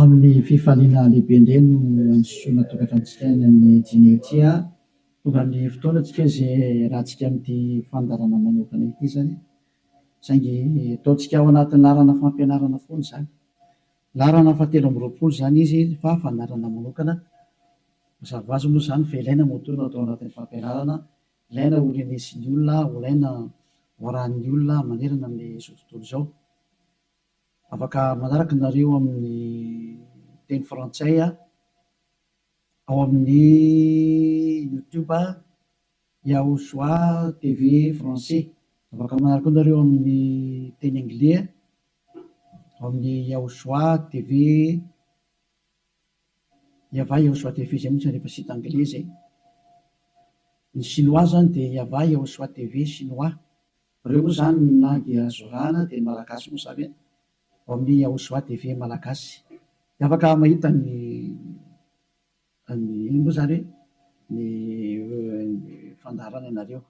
Amin'ny fifaliana lehibe indray no androsoana tokantranontsika any amin'i Jinny ity a! Tonga ny fotoana antsika izay hiarahantsika amin'ity fandaharana manokana ity izany, saingy ataontsika ao anatin'ny laharana fampianarana foana izany. Laharana fahatelo amby roapolo izany izy fa fandaharana manokana. Mazava ho azy moa izany fa ilaina moa toa no atao anatin'ny fampianarana, ilaina ho renesin'ny olona, ho ilaina ho arahin'ny olona manerana amin'izao tontolo izao. Afaka manaraka anareo amin'ny teny frantsay aho ao amin'ny youtube Yahoshua TV français. Afaka manaraka koa nareo amin'ny teny anglais ao amin'ny Yahoshua TV Yavah Yahoshua TV izay mihitsy rehefa site anglais izay. Ny chinois izany dia Yavah Yahoshua TV chinois. Reo moa zany na dia zorana dia ny malagasy moa zany e! Ao amin'ny Yahushua TV malagasy dia afaka mahita ny ny inona moa zany hoe ny fandaharana anareo.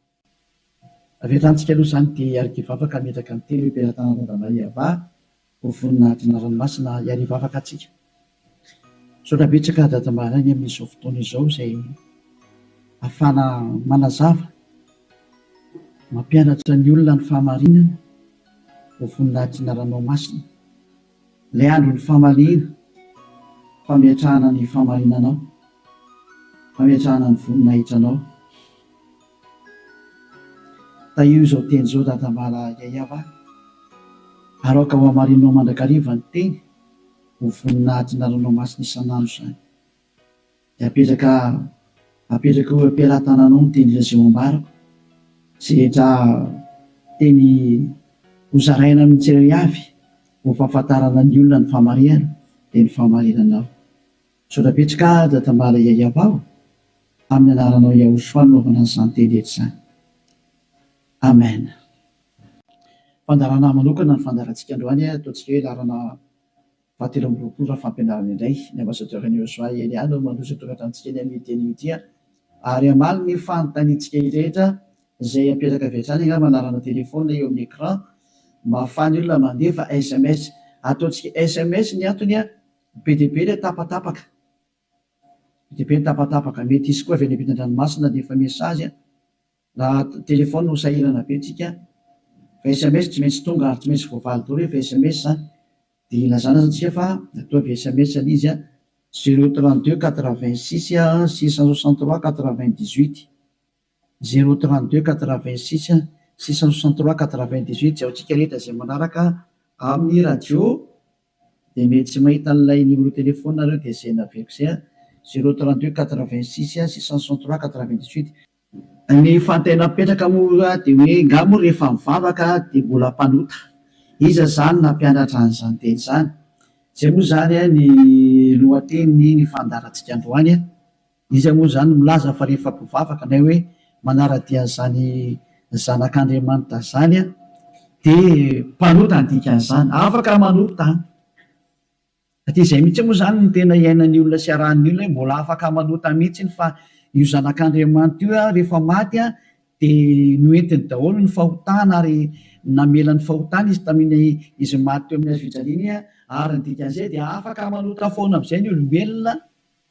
Avy hatrany tsika aloha zany dia hiarikivavaka hametraka ny teny hoe Mpiara-tana Randamaniavà Ho vonona hadina ranomasina hiary hivavaka atsika. Misaotra betsaka Dada Mbaraigny amin'izao fotoana izao izay afahana manazava, mampianatra ny olona ny fahamarinana. Ho vonona hadina ranomasina. Ilay andron'ny famaliana, fametrahana ny fahamarinanao, fametrahana ny voninahitranao. Tahio izao teny izao dadambala Yayava a! ary aoka ho hamarininao mandrakariva ny teny ho vonona hahatonà ranomasina isan'andro izany. Dia apetraka apetraka eo am-pelatananao ny teny Lazao ambarako izay rehetra teny hozaraina amin'ny tsirairavy ho fahafantarana ny olona ny fahamarihana dia ny fahamarinanao. Misaotra betsy ka da tambara yayab aho amin'ny anaranao Yahoshua no nanaovana an'izany teny rehetra izany. Amen. Fandaharana manokana ny fandaharantsika androany a, ataontsika hoe laharana faha telo amby roapolo raha fampianarana indray. Ny Ambassadeur an'i Yosua i Elia no mandroso an-toratra antsika eny amin'ity anio ity a. Ary hamaly ny fanontaniantsika rehetra izay apetraka avy hatrany angamba anarana téléphone eo amin'ny écran mba ahafahan'ny olona mandefa sms. Ataontsika sms ny antony a. Be dia be ilay tapatapaka. Be dia be ny tapatapaka. Mety hisy koa avy any ampitan-dranomasina dia efa message an. Raha telefaonina no sahirana be tsika an. Fa sms tsy maintsy tonga ary tsy maintsy voavaly daholo rehefa sms an. Dia ilazana aza tsika fa matoa avy sms ilay izy an. Zero trente deux quatre vingt six six cent soixante trois quatre vingt dix huit. zéro trente deux quatre vingt six six cent soixante trois quatre vingt dix huit Jaontsika rehetra izay manaraka amin'ny radio dia mety tsy mahita an'ilay numéro téléphone nareo dia izay naveriko izay an, zéro trente deux quatre vingt six six cent soixante trois quatre vingt dix huit. Ny fanontaniana mipetraka moa dia hoe nga moa rehefa mivavaka dia mbola mpanota? Iza izany nampianatra an'izany teny izany? Izay moa izany ny lohatenin'ny fandaharantsika androany. Iza moa izany milaza fa rehefa mpivavaka na hoe manara-dia an'izany Zanak'Andriamanitra izany dia mpanota ny dikan'izany? Afaka manota izany. Hatrizay mihitsy moa izany no tena iainan'ny olona sy iarahan'ny olona hoe mbola afaka manota mihitsy fa io Zanak'Andriamanitra io rehefa maty dia noentiny daholo ny fahotana ary namela ny fahotana izy tamin'ny izy maty teo amin'ny hazofijaliana ary ny dikan'izay dia afaka manota foana amin'izay ny olombelona.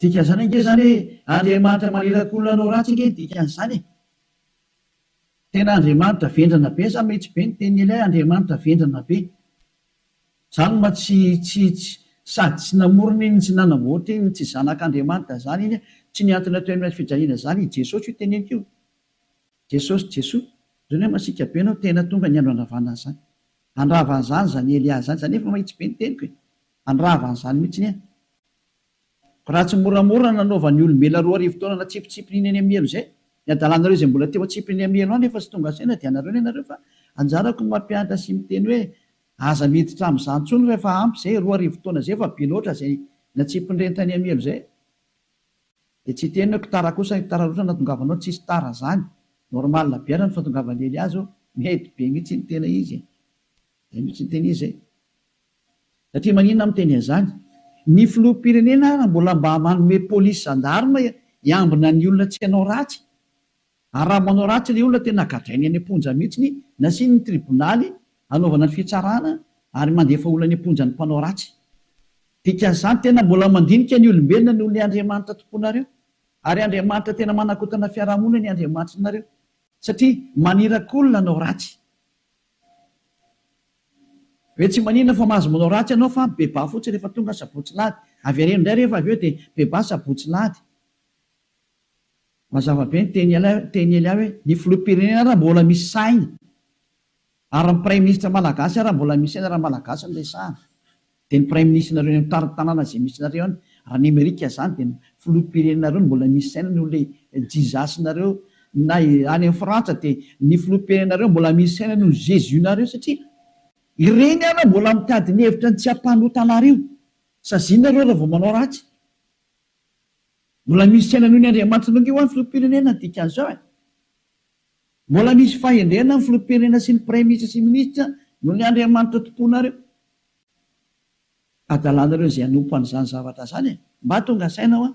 Dikan'izany ange izany hoe Andriamanitra maniraka olona hanao ratsy ange ny dikan'izany e! Tena Andriamanitra vendrana be sa mety be ny tenin'ilay Andriamanitra vendrana be? Zany ma tsy tsy tsy sady tsy namorona iny tsy nanamboatra iny tsy zanak'Andriamanitra zany iny a! Tsy ny antony atao eny amin'ny fijaliana zany i Jesosy io teneniko io. Jesosy Jesoa, zao ne masiaka be anao tena tonga ny andro handravana an'izany. Handrava an'izany zany Elia zany, za nefa mahitsy be ny teniko e! Handrava an'izany mihitsiny a! Raha tsy moramora nanaovan'ny olombelona roa arivo taona natsipitsipiny iny any Amielo izay, ny hadalanareo izay mbola teo an-tsiprin'ny Amielo any efa tsy tonga saina dia anareo ny anareo fa anjarako ny mampianatra sy miteny hoe aza miditra amin'izany intsony fa efa ampy izay, roa arivo taona izay efa be loatra izay natsipin'ireny tany Amielo izay dia tsy hiteny hoe kotara kosa ny kotara loatra natongavanao, tsisy tara izany, normal be ara ny fahatongavan'i Eliazo, mety be mihitsy iny tena izy e! izay mihitsy ny tena izy e! Satria maninona miteny an'izany? Ny filoham-pirenena ary mbola mba manome polisy zandarma hiambina ny olona tsy hanao ratsy? Ary raha manao ratsy ilay olona tena gadrainy any am-ponja mihitsy, nasiany ny tribonaly hanaovana ny fitsarana ary mandefa olona any am-ponja ny mpanao ratsy. Dikan'izany tena mbola mandinika ny olombelona noho ilay Andriamanitra tomponareo. Ary Andriamanitra tena manakotana fiarahamonina ny Andriamanitrinareo. Satria maniraky olona hanao ratsy. Ve tsy maninona fa mahazo manao ratsy ianao fa bebà fotsiny rehefa tonga sabotsy lahady. Avereno indray rehefa avy eo dia bebà sabotsy lahady. Mazava be ny teny Elia hoe ny filoham-pirenena ary mbola misy sainy ary ny praiminisitra malagasy ary mbola misy sainy raha malagasy no resahana. Dia ny praiminisitrinareo eny amin'ny tanàna izay misy nareo any raha ny amerika zany dia ny filoham-pirenenareo no mbola misy saina noho ilay Jesus nareo na any amin'ny frantsa dia ny filoham-pirenenareo mbola misy saina noho ny jesus nareo satria ireny ary mbola mitady ny hevitra ny tsy hampanota anareo saziana reo raha vao manao ratsy mbola misy saina noho ny andriamanitra nareo hoany filoham-pirenena ny dikan'izao e mbola misy fahendrena ny filoham-pirenena sy ny praiminisitra sy ny minisitra noho ny andriamanitra tomponareo Adalanareo izay hanompo an'izany zavatra izany e! Mba tonga saina hoa.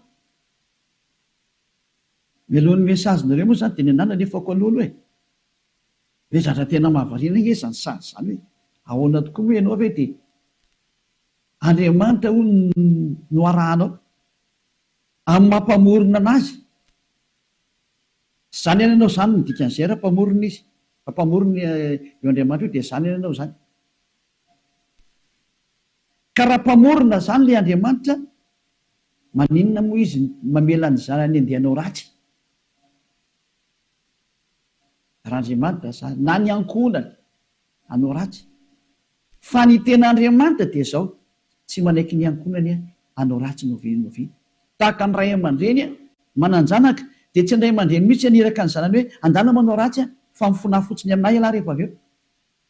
Melohin'ny message nareo moa izany dia ny an'Anna nefa aoka lolo e! Ve zatra tena mahavariana ange izany sazy izany hoe ahoana tokoa moa ianao ve dia Andriamanitra hono no arahanao amin'ny maha mpamorona an'azy? Tsy izany any ianao izany no dikan'izay raha mpamorona izy, raha mpamorona io Andriamanitra io dia izany any ianao izany. Ka raha mpamorona zany le Andriamanitra maninona moa izy mamela ny zanany andeha hanao ratsy? Raha Andriamanitra zany na ny ankohonany hanao ratsy? Fa ny tena Andriamanitra dia zao, tsy manaiky ny ankohonany hanao ratsy no ve no ve? Tahaka ny ray aman-dreny manan-janaka dia tsy ny ray aman-dreny mihitsy haniraka ny zanany hoe andana manao ratsy fa mifona fotsiny aminay ialahy rehefa avy eo.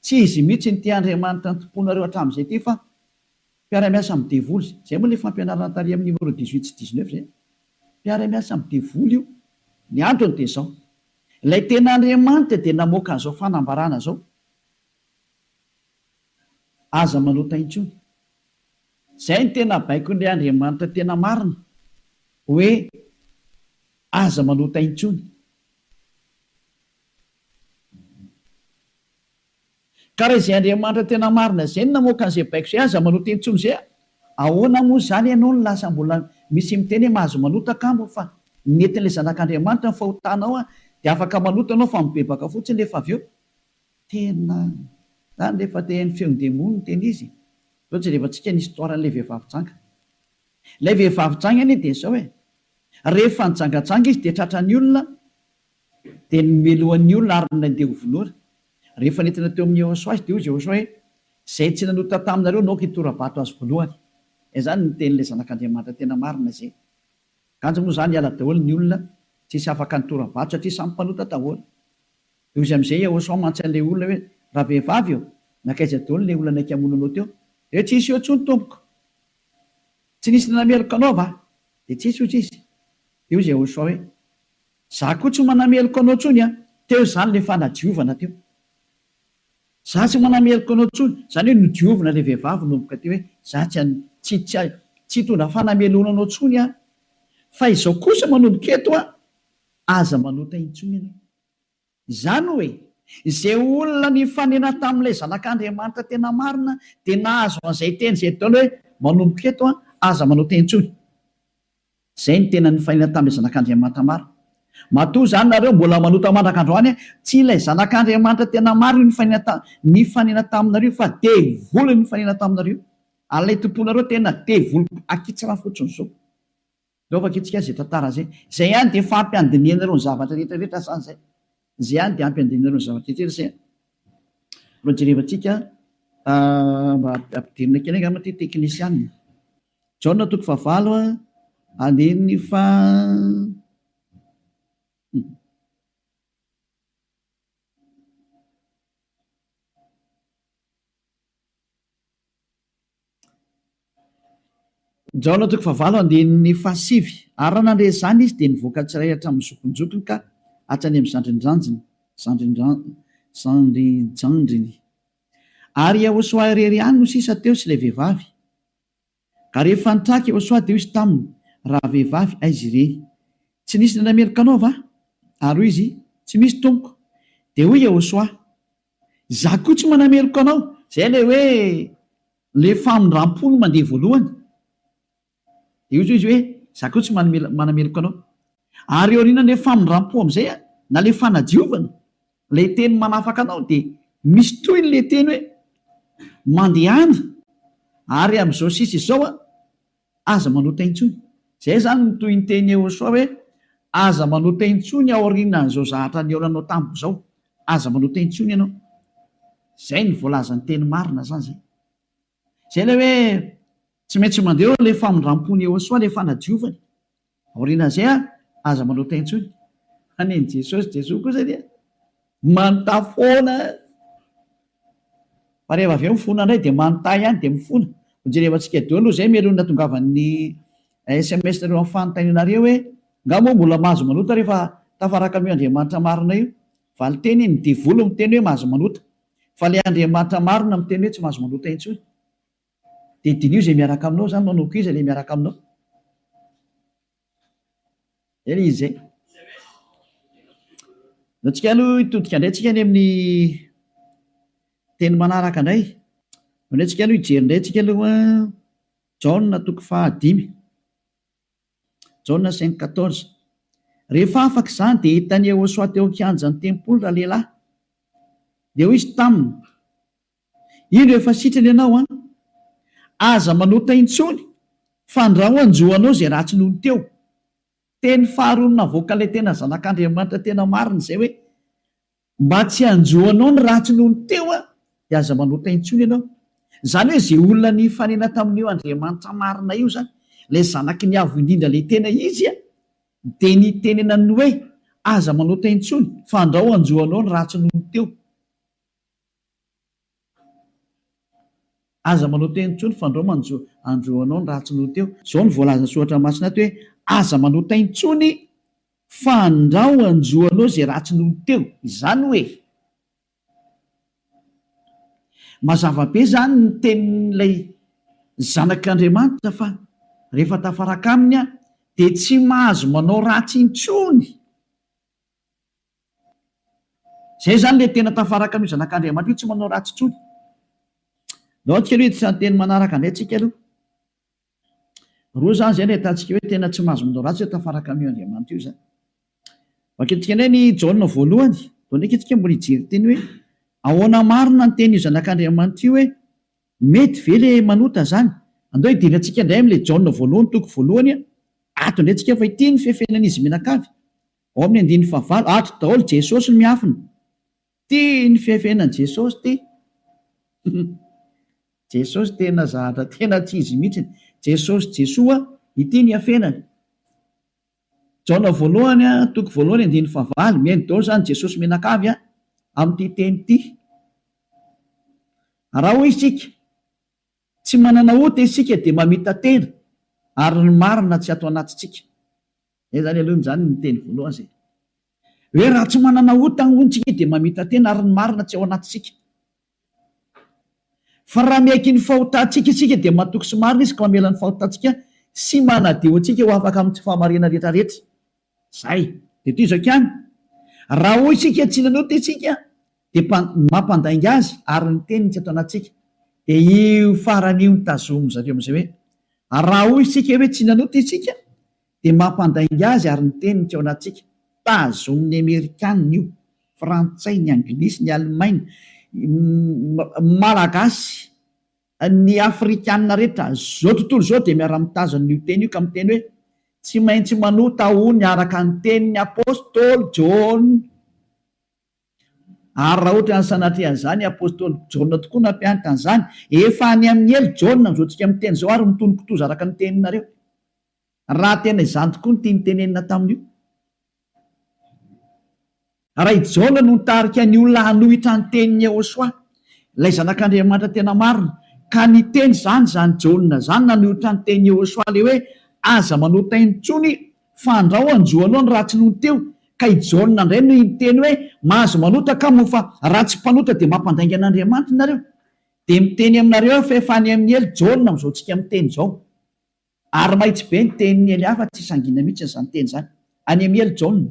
Tsy izy mihitsy no tia Andriamanitra nitompoanareo hatramin'izay ity fa mpiara-miasa amin'ny devoly izay. Izay moa ilay fampianarana tary amin'ny numéro dix huit sy dix neuf izay. Mpiara-miasa amin'ny devoly io. Ny antony dia izao. Ilay tena Andriamanitra dia namoaka an'izao fanambarana izao, Aza manota intsony. Izay no tena baikon'ilay Andriamanitra tena marina, hoe aza manota intsony. Ka raha izay Andriamanitra tena marina izay no namoaka an'izay baiko izay, aza manota intsony izay a! Ahoana moa izany ianao no lasa mbola misy miteny hoe mahazo manota kamo fa nentin'ilay Zanak'Andriamanitra ny fahotanao a! Dia afaka manota ianao fa mibebaka fotsiny rehefa avy eo. Tena izany rehefa te haino feon'ny demony no tena izy. Izao jerevantsika ny histoire an'ilay vehivavy janga. Ilay vehivavy janga anie dia izao e! Rehefa nijangajanga izy dia tratran'ny olona Dia nomelohany ny olona ary nandeha ho vonoina. Rehefa nentina teo amin'i Yehosua izy, dia hoy Yehosua hoe, Izay tsy nanota taminareo no aoka hitora-bato azy voalohany. Izany no tenin'ilay Zanak'Andriamanitra tena marina izay. Kanjo moa izany hiala daholo ny olona tsisy afaka nitora-bato satria samy mpanota daholo. Dia hoy izy amin'izay Yehosua mantsy an'ilay olona hoe, Ravehivavy ô, nankaiza daholo ilay olona naika hamono anao teo? Dia hoe, Tsy nisy eo intsony tompoko. Tsy nisy nanameloka anao va? Dia tsy nisy, hoy izy. Dia hoy Yehosua hoe, Za koa tsy manameloka anao tsony an! Teo izany le fanadiovana teo. Za tsy manameloka anao tsony, zany hoe nodiovina le vehivavy nomboka teo hoe za tsy an, tsy, tsy, tsy hitondra fanameloana anao tsony aho. Fa izao kosa manomboka eto an, aza manota intsony ianao. Izany hoe, izay olona nifanena tamin'ilay Zanak'Andriamanitra tena marina dia nahazo an'izay teny izay Dol hoe, Manomboka eto, aza manao teny intsony. Izay no tena nifanena tamin'ilay Zanak'Andriamanitra marina. Matoa izany nareo mbola manota mandraka androany, tsy ilay Zanak'Andriamanitra tena marina io nifanena nifanena taminareo io fa devoly no nifanena taminareo io. Alaitim-ponareo tena devoly akitsra fotsiny izao. Ndao vakintsika izay tantara izay. Izay ihany dia efa ampy handinihanareo ny zavatra rehetra rehetra sa izay? Izay ihany dia ampy handinihanareo ny zavatra rehetra rehetra izay? Mba jerevantsika mba ampidirina kely angamba ity teknisianina. Jaona toko fahavalo andininy faha. Jaona toko fahavalo andininy fahasivy. Ary raha nandre izany izy, dia nivoaka tsy iray hatramin'ny zokinjokiny ka hatrany amin'ny zandrinjandriny, zandrinjandriny, zandrinjandriny. Ary i Iehosoa irery ihany no sisa teo sy ilay vehivavy. Ary rehefa nitraka Iehosoa, dia hoy izy taminy, Rahavehivavy, aiza ireny? Tsy nisy nandray meloka anao va? Ary hoy izy, Tsy misy, tompoko. Dia hoy Iehosoa, Izaho koa tsy manameloka anao. Izay ilay hoe ilay famindram-po no mandeha voalohany. Dia hoy izy hoe, Izaho koa tsy manameloka anao. Ary eo aorianan'ilay famindram-po amin'izay, na ilay fanadiovana, ilay teny manafaka anao, dia misy tohiny ilay teny hoe, Mandehana, ary amin'izao sisa izao aho. Aza manota intsony. Izay izany no tohin-teny Eosoa hoe, Aza manota intsony aorianan'izao zahatra nihaona anao tamiko izao. Aza manota intsony ianao. Izay no voalazan'ny teny marina izany izay. Izay ilay hoe tsy maintsy mandeha eo ilay famindram-pon'i Eosoa, ilay fanadiovany. Aorianan'izay ary, aza manota intsony. Hanin'i Jesosy, Jesoa kosa dia manota foana. Fa rehefa avy eo mifona indray dia manota ihany dia mifona. Hojereva antsika daholo izay mialohan'ny hatongavan'ny sms nareo amin'ny fanontanianareo hoe, Nga moa mbola mahazo manota rehefa tafaraka amin'io Andriamanitra marina io? Valin-teny, Ny devoly miteny hoe mahazo manota. Fa ilay Andriamanitra marina miteny hoe tsy mahazo manota intsony. Dia diniho izay miaraka aminao izany manao koa iza ilay miaraka aminao? Zay ilay izy zay. Aleo tsika aloha hitodika indray tsika any amin'ny teny manaraka indray. Aleo indray tsika aloha hijery indray tsika aloha Jaona toko fahadimy. Jaona cinq quatorze. Rehefa afaka izany dia hitan'i Yehosoa teo an-kianjan'ny tempoly ralehilahy. Dia hoy izy taminy, Indro efa sitrana ianao an! Aza manota intsony fandrao hanjo anao izay ratsy nony teo. Teny faharoa navoaka ilay tena zanak'Andriamanitra tena marina izay hoe, mba tsy hanjo anao ny ratsy nony teo an, dia aza manota intsony ianao. Izany hoe izay olona nifanena tamin'io Andriamanitra marina io izany, ilay zanaky ny Avo indrindra ilay tena izy an, dia nitenenany ny hoe, aza manota intsony fandrao hanjo anao ny ratsy nony teo. Aza manao teny intsony fa ndrao manjo andro anao ny ratsy noho teo. Izao no voalazan'ny soratra masina ato hoe, Aza manao tay intsony fa ndrao anjo anao izay ratsy noho teo. Izany hoe, mazava be izany ny tenin'ilay zanak'Andriamanitra fa rehefa tafaraka aminy aho dia tsy mahazo manao ratsy intsony. Izay izany ilay tena tafaraka amin'io zanak'Andriamanitra io, tsy manao ratsy intsony. Ndao antsika aloha hiditra ny teny manaraka indray tsika aloha. Roa izany izay no ahitantsika hoe tena tsy mahazo manao ratsy hoe tafaraka amin'io Andriamanitra io izany. Vakintsika indray ny Jaona voalohany, vao ndraika isika mbola hijery teny hoe ahoana marina ny tenin'io zanak'Andriamanitra io hoe mety ve ilay manota izany. Andao hidina antsika indray amin'ilay Jaona voalohany toko voalohany, ato indray tsika fa ity no fefenan'izy mianakavy. Ao amin'ny andininy fahavalo, ato daholo Jesosy no miafina. Tia ny fihafihana an'i Jesosy ity. Jesosy tena zahatra tena tsy izy mihitsy. Jesosy Jesoa ity ny hafenany. Jaona voalohany, toko voalohany, andininy fahavalo. Mihaino daholo izany Jesosy mianakavy a, amin'ity teny ity. Raha hoy isika, tsy manana ota isika dia mamita-tena, ary ny marina tsy ato anatintsika. Zay zany aloha zany ny teny voalohany zay hoe raha tsy manana ota hono tsika dia mamita-tena ary ny marina tsy ao anatintsika. Fa raha miaiky ny fahotantsika isika dia matoky sy marina izy ka mamela ny fahotantsika sy manadio antsika ho afaka amin'ny tsy fahamariana rehetrarehetra. Zay. Dia toy izao ihany, raha hoy isika tsy nanota isika dia mpa, ny mampandainga azy ary ny teniny tsy ato anatintsika. Dia io farany io no tazomin-dry zareo amin'izay hoe, ary raha hoy isika hoe tsy nanota isika, dia mampandainga azy ary ny teniny tsy ao anatintsika. Tazomin'ny Amerikana io, Frantsay, ny Anglisy, ny Alemaina, ny Malagasy, ny Afrikana rehetra izao tontolo izao dia miara-mitazona io teny io ka miteny hoe, tsy maintsy manota hono araka ny tenin'ny Apostoly Jaona. Ary raha ohatra ny sanatria izany apostoly Jaona tokoa nampianatra an'izany, efa any amin'ny helo Jaona amin'izao tsika miteny izao ary mitony kitoza araka ny teninareo. Raha tena izany tokoa ny tiany tenenina tamin'io. Raha i Jaona no nitarika ny olona hanohitra ny tenin'i Yehosua, ilay zanak'Andriamanitra tena marina, ka niteny izany izany Jaona izany nanohitra ny tenin'i Yehosua ilay hoe aza manota intsony Fandrao anjo aloha ny ratsy nony teo ka i Jaona ndray no hiteny hoe mahazo manota ka moa fa raha tsy mpanota dia mampandainga an'Andriamanitra nareo dia miteny aminareo aho fa efa any amin'i Ely Jaona amin'izao tsika miteny izao ary mahitsy be ny tenin'i Ely hafa tsy sangina mihitsy izany teny izany any amin'i Ely Jaona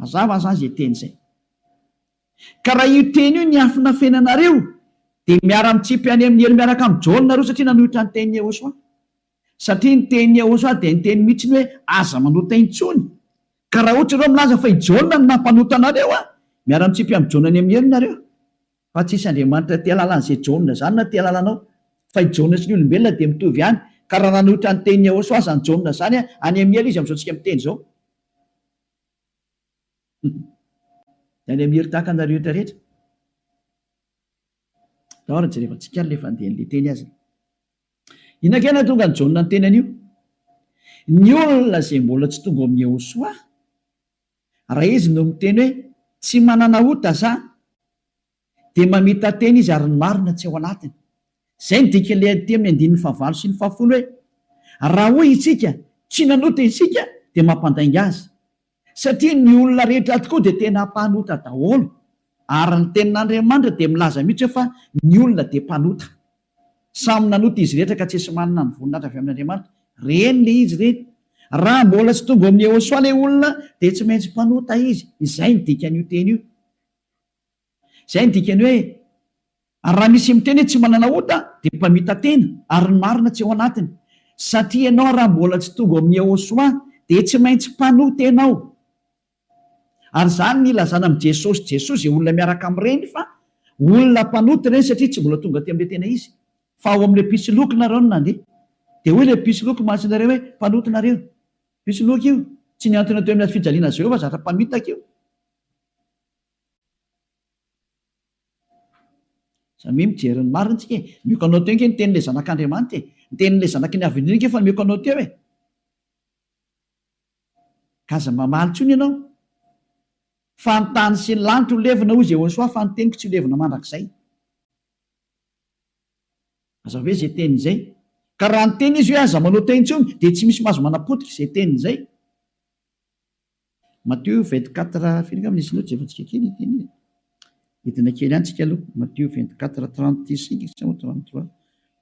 Mazava aza izay teny izay. Ka raha io teny io niafina fenanareo dia miara mitsipy any amin'ny helo miaraka amin'i Jaona nareo satria nanohitra ny tenin'i Yehosua. Satria ny tenin'i Yehosua dia niteny mihitsy ny hoe aza manota intsony. Ka raha ohatra ianao milaza fa i Jaona no nampanota anareo an! miara mitsipy amin'i Jaona any amin'ny helo nareo. Fa tsy hisy Andriamanitra tia alalan'izay Jaona izany na tia alalanao. Fa i Jaona sy ny olombelona dia mitovy ihany. Ka raha nanohitra ny tenin'i Yehosua aza ny Jaona izany an! any amin'ny helo izy amin'izao tsika miteny izao. Dia any Amir tahaka anareo rehetra rehetra. Tao ary jerevantsika ary le fandehan'le teny azy. Inona kay nahatonga an'i Jaona niteny an'io? Ny olona izay mbola tsy tonga ao amin'i Yehosoa, raha izy no miteny hoe tsy manana ota za, dia mamita-tena izy ary ny marina tsy ao anatiny. Izay no dikan'ilay teny amin'ny andininy fahavalo sy ny fahafolo hoe, Raha hoy isika, Tsy nanota isika, dia mampandainga azy. Satria ny olona rehetra tokoa dia tena mpanota daholo. Ary ny Tenin'Andriamanitra dia milaza mihitsy hoe fa ny olona dia mpanota. Samy nanota izy rehetra ka tsy esy manana ny voninahitra avy amin'Andriamanitra. Reny le izy reny. Raha mbola tsy tonga ao amin'i Yehosoa le olona dia tsy maintsy mpanota izy. Izay no dikan'io teny io. Izay no dikan'ny hoe ary raha misy miteny hoe tsy manana ota dia mpamita-tena ary ny marina tsy ao anatiny satria ianao raha mbola tsy tonga ao amin'ny Yehoshuah dia tsy maintsy mpanoa-tena ao ary izany no ilazana amin'i Jesosy Jesosy izay olona miaraka amin'ireny fa olona mpanota ireny satria tsy mbola tonga aty amin'ilay tena izy fa ao amin'ilay mpisoloky nareo no nandeha dia hoy ilay mpisoloky masinareo hoe mpanota nareo mpisoloky io tsy niantona teo amin'ny hazo fijaliana Jehovah zatra mpamitaka io Za mi mijery ny marina tsika e! Mioko anao teo nge ny tenin'ilay zanak'Andriamanitra e! Ny tenin'ilay zanaky ny avenir nge efa mioko anao teo e! Ka aza mamaly intsony ianao fa ny tany sy ny lanitra ho levona hoy Jehosoa fa ny teniko tsy ho levona mandrakizay. Aza hoe izay teniny izay. Ka raha niteny izy hoe aza manao teo intsony dia tsy misy mahazo manapotika izay teniny izay. Matthieu vingt quatre firy angamba nisy notes efa tsika kely ity anie e hidina kely any tsika aloha Matthieu vingt quatre trente six sa moa trente trois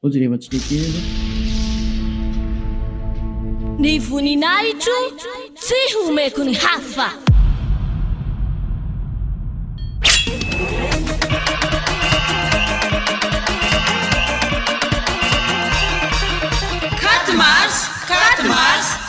zao jereva tsika kely aloha ny voninahitro tsy homeko ny hafa Quatre mars, quatre mars.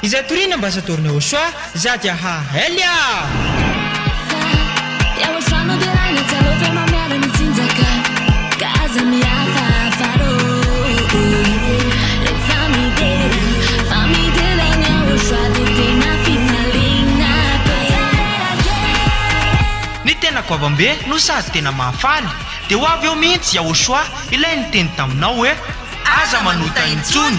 Izay toriana ambassador ny Auchois za dia ha elle a! Ny tena goavambe no sady tena mahafaly dia ho avy eo mihitsy i Auchois ilay niteny taminao hoe aza manota intsony!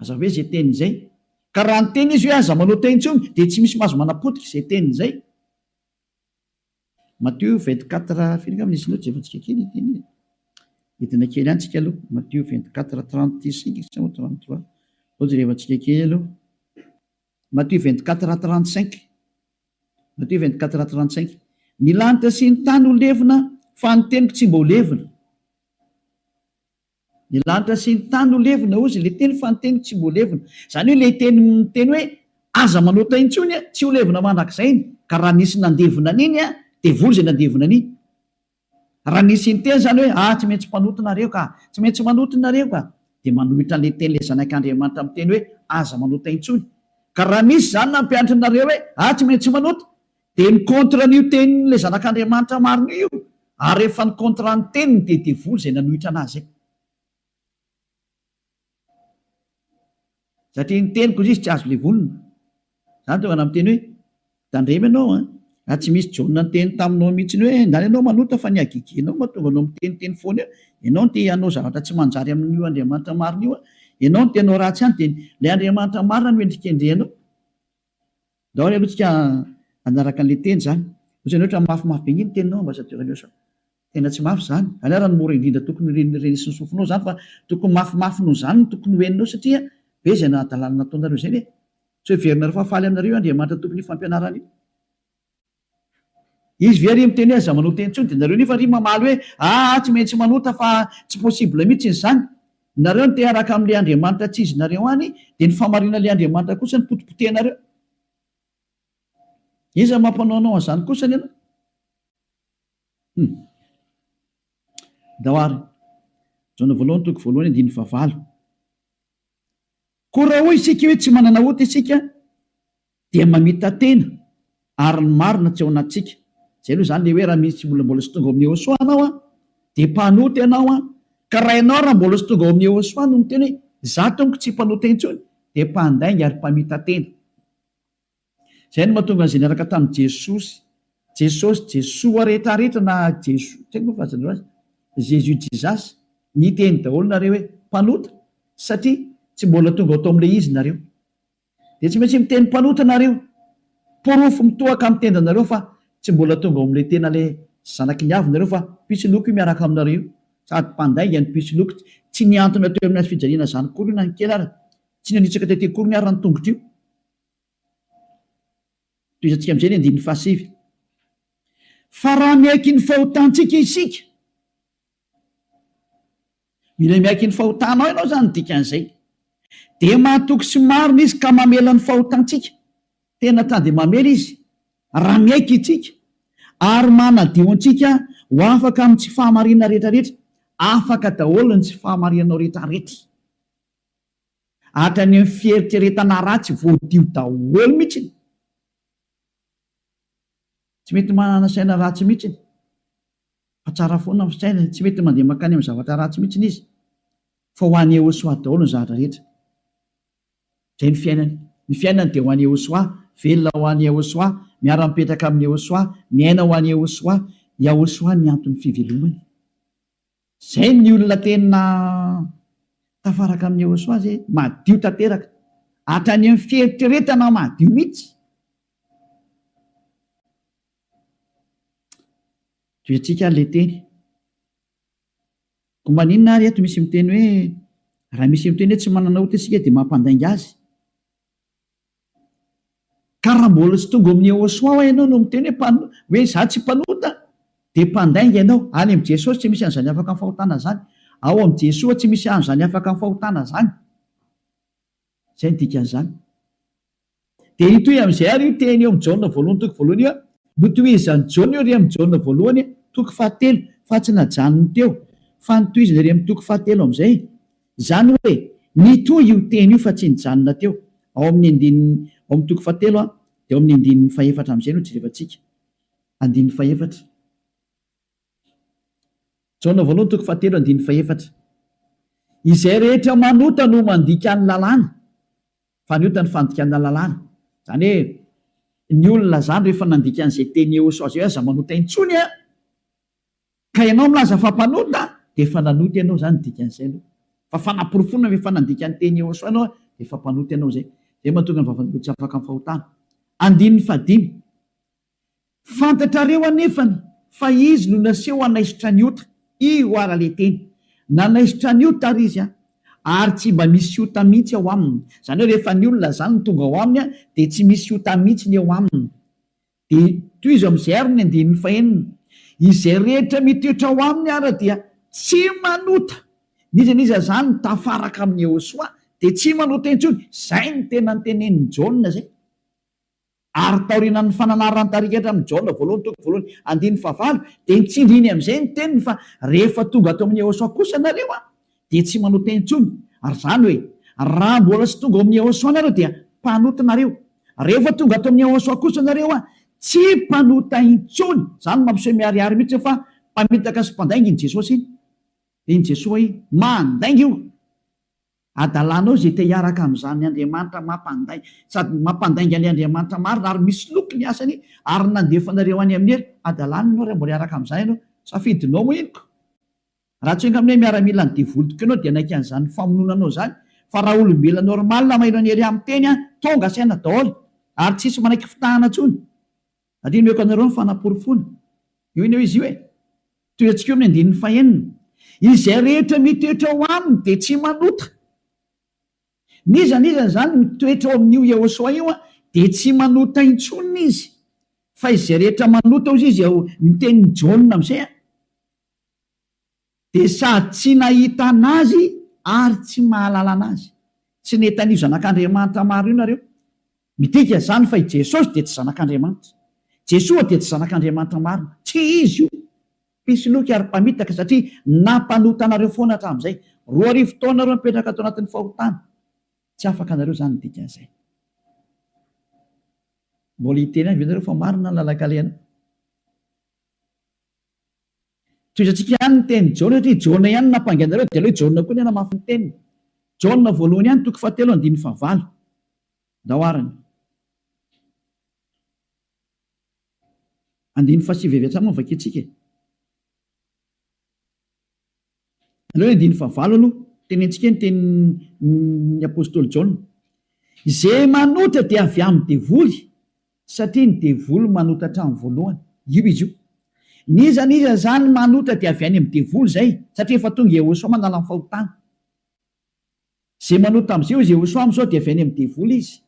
Aza hoe izay teny izay. Ka raha niteny izy hoe aza manota intsony dia tsy misy mahazo manapotika izay teny izay. Matio vingt quatre firy angamba nisy nota jerentsika kely ity anie e. Hidina kely any tsika aloha. Matio vingt quatre trente cinq sa moa trente trois. Sao jerevantsika kely aloha. Matio vingt quatre trente cinq. Matio vingt quatre trente cinq. Ny lanitra sy ny tany ho levona fa ny teniko tsy mba ho levona. Ny lanitra sy ny tany no levona, hozy, ilay teny fa ny teny tsy mbola levona. Izany hoe ilay teny miteny hoe, Aza manota intsony an, tsy ho levona mandrakizay iny. Ka raha nisy nandevona an'iny an, devoly izay nandevona an'iny. Raha nisy niteny izany hoe, Ah, tsy maintsy mpanota nareo ka! Tsy maintsy manota nareo ka! Dia manohitra an'ilay teny ilay Zanak'Andriamanitra miteny hoe, Aza manota intsony. Ka raha nisy izany nampianatrinareo hoe, Ah, tsy maintsy manota! Dia ny contrat an'io tenin' ilay zanak'Andriamanitra marina io, ary rehefa ny contrat ny teniny dia devoly izay nanohitra an'azy izay. Satria ny teniko hoy izy tsy azo levolina. Izany tonga namiteny hoe, Tandremo ianao an! Raha tsy misy Jaona niteny taminao mihitsiny hoe, Ndany ianao manota fa ny hagegenao mahatonga anao miteniteny foana eo, ianao no te hanao zavatra tsy manjary amin'io Andriamanitra marina io an! Ianao no te hanao ratsy ihany dia ilay Andriamanitra marina no endrikendrehanao. Daholo aloha tsika hanaraka anle teny zany otrany otra mafimafy be ngeh ny teninao ambassadeur anio sao tena tsy mafy zany anao raha ny mora indrindra tokony re renesy ny sofinao zany fa tokony mafimafy noho zany no tokony ho eninao satria be zay nahadalana nataonareo zay ve tsy ho heverina reo fa faly aminareo io andriamanitra tompony io fampianarana io. Izy ve ry miteny hoe aza manota intsony dia nareo nefa ry mamaly hoe aa tsy maintsy manota fa tsy possible mitsy izany. Nareo no te haraka amle Andriamanitra tsy izy nareo any dia ny famarinanle Andriamanitra kosa no potipotehinareo. Iza mampanao anao anzany kosa anie anao? Hum. Ndao ary. Jaona voalohany toko voalohany andininy fahavalo. Koa raha hoy isika hoe tsy manana ota isika dia mamita-tena ary ny marina tsy ao anatintsika, izay aloha izany le hoe raha misy tsy mbola mbola tsy tonga ao amin'ny Yehosua anao an, dia mpanota ianao an, ka raha ianao raha mbola tsy tonga ao amin'ny Yehosua no miteny hoe za tompoko tsy mpanota intsony dia mpandainga ary mpamita-tena. Izay no mahatonga an'izay niaraka tamin'i Jesosy, Jesosy, Jesoa rehetra rehetra na Jeso, tsy haiko moa fa asan'ireo azy, Jésus, Jesus, niteny daholo nareo hoe mpanota satria tsy mbola tonga ao tao amin'ilay izy nareo. Dia tsy maintsy miteny mpanota nareo. Porofo mitohaka amin'ny tendanareo fa tsy mbola tonga ao amin'ilay tena ilay zanaky ny avy nareo fa pitsiloko io miaraka aminareo io. Sady mpandainga ny pitsiloko. Tsy nihantona teo amin'ny hazo fijaliana zany akory io na ny kely ary. Tsy nanitsaka tety akory ny ary ny tongotro io. Tohizantsika amin'izay ny andininy fahasivy. Fa raha miaiky ny fahotantsika isika. Mila miaiky ny fahotanao ianao izany no dikan'izay. Dia mahatoky sy marina Izy ka mamela ny fahotantsika. Tena ta dia mamela Izy raha miaiky isika ary manadio antsika ho afaka amin'ny tsy fahamarinana rehetrarehetra. Afaka daholo ny tsy fahamarinanao rehetrarehetra. Hatrany amin'ny fieritreretana ratsy voadio daholo mihitsy. Tsy mety manana saina ratsy mihitsy. Fa tsara foana ny fisainany, tsy mety mandeha mankany amin'ny zavatra ratsy mihitsy izy, fa ho an'i Yehosoa daholo ny zavatra rehetra. Izay ny fiainany. Ny fiainany dia ho an'i Yehosoa, velona ho an'i Yehosoa, miara-mipetraka amin'i Yehosoa, miaina ho an'i Yehosoa. Yahosoa ny anton'ny fivelomany. Izay ny olona tena tafaraka amin'i Yehosoa izay, madio tanteraka, hatrany amin'ny fieritreretana madio mihitsy. Toetsika ary ilay teny. Koa maninona ary eto misy miteny hoe raha misy miteny hoe tsy manana ota isika dia mampandainga azy? Ka raha mbola tsy tonga ao amin'ny Yehosua ho'a ianao no miteny hoe mpan- hoe izaho tsy mpanota dia mpandainga ianao. Any amin'i Jesosy tsy misy an'izany afaka amin'ny fahotana izany. Ao amin'i Jesoa tsy misy an'izany afaka amin'ny fahotana izany. Izay ny dikan'izany. Dia hitohy amin'izay àry io teny eo amin'ny Jaona voalohany toko voalohany io. Notohizan'i Jaona io ireny Jaona voalohany toko fahatelo, fa tsy najanony teo, fa notohizany ireny amin'ny toko fahatelo amin'izay. Izany hoe, nitohy io teny io fa tsy nijanona teo. Ao amin'ny andininy, ao amin'ny toko fahatelo dia ao amin'ny andininy fahefatra amin'izay no jerevantsika. Andininy fahefatra. Jaona voalohany toko fahatelo andininy fahefatra Izay rehetra manota no mandika ny lalàna, fa ny ota ny fandikana lalàna. Izany hoe, ny olona izany rehefa nandika an'izay teny eos azy hoe aza manota intsony an, ka ianao milaza fa mpanota, dia efa nanota ianao izany ny dikan'izay aloha. Fa fanaporofoana fa efa nandika ny teny eos ianao dia efa mpanota ianao izay. Izay no mahatonga ny vavan'olona tsy afaka amin'ny fahotana. Andininy fahadimy. Fantatrareo anefany fa izy no naseho hanaisotra an'i Ota, io ara le teny. Nanaisotra an'i Ota ary izy an! Ary tsy mba misy Ota mihitsy ao aminy. Izany hoe rehefa ny olona izany no tonga ao aminy dia tsy misy Ota mihitsy ny eo aminy. Dia tohizo amin'izay ary ny andininy fahenina, Izay rehetra mitoetra ao aminy ara dia tsy manota. N'iza n'iza izany tafaraka amin'i Iehosoa dia tsy manota intsony. Izay no tena notenenin'i Jaona izay. Ary taorianan'ny fananaran-tarikatra amin'i Jaona voalohany toko voalohany andininy fahavalo dia nitsindriny amin'izay ny teniny fa rehefa tonga ato amin'i Yehosua kosa nareo an, dia tsy manao teny intsony, ary izany hoe, raha mbola tsy tonga ao amin'i Yehosua nareo dia mpanota nareo, rehefa tonga ato amin'i Yehosua kosa nareo an, tsy mpanota intsony, izany mampiseho miharihary mihitsy hoe fa mpamitaka sy mpandainga iny Jesosy iny, dia iny Jesoa iny mandainga io. Hadalanao izay te hiaraka amin'izany Andriamanitra mampandainga, sady mampandainga ny Andriamanitra marina ary misoloky ny asany ary ny nandefanareo any amin'ny Helo. Hadalany ianao raha mbola hiaraka amin'izany ianao. Safidinao henoko. Raha tsy ho enga aminay miaramila ny devoly tokoa ianao dia hanaiky an'izany famonoana anao izany. Fa raha olombelona normal maheno an'i Hery miteny an, tonga saina daholo. Ary tsisy manaiky fitahana intsony. Andinihako anareo ny fanaporofoana. Io anie hoe izy io e. Tohiantsika eo amin'ny andininy fahenina. Izay rehetra mitoetra ao aminy dia tsy manota. N'iza n'iza izany mitoetra ao amin'io Iehoswa io dia tsy manota intsony izy. Fa izay rehetra manota hozy izy ao ny tenin'i Jaona amin'izay a. Dia sady tsy nahita an'Azy ary tsy mahalala an'Azy. Tsy nety an'io Zanak'Andriamanitra maro io nareo. Midika izany fa i Jesosy dia tsy Zanak'Andriamanitra. Jesoa dia tsy Zanak'Andriamanitra marina. Tsy Izy io. Mpisoloky ary mpamitaka satria nampanota anareo foana hatramin'izay. Roa arivo taona nareo mipetraka ato anatin'ny fahotana. Tsy afaka nareo izany ny dikan'izay. Mbola hiteny ihany ve nareo fa marina ny lalan-kalehana? Tohizantsika ihany ny tenin'i Jaona satria Jaona ihany no nampangaina ireo dia aleo i Jaona koa ny hanamafy ny teniny. Jaona voalohany ihany toko fahatelo andininy fahavalo. Ndao ary ny. Andininy fahasivy avy hatrany no vakintsika e. Aleo andininy fahavalo aloha, tenentsika ny tenin'ny apostoly Jaona, Izay manota dia avy amin'ny devoly, satria ny devoly manota hatramin'ny voalohany. Io izy io. N'iza n'iza izany manota dia avy any amin'ny devoly izay, satria efa tonga i Iehosoa manala ny fahotana. Izay manota amin'izay hoy Iehosoa amin'izao dia avy any amin'ny devoly izy.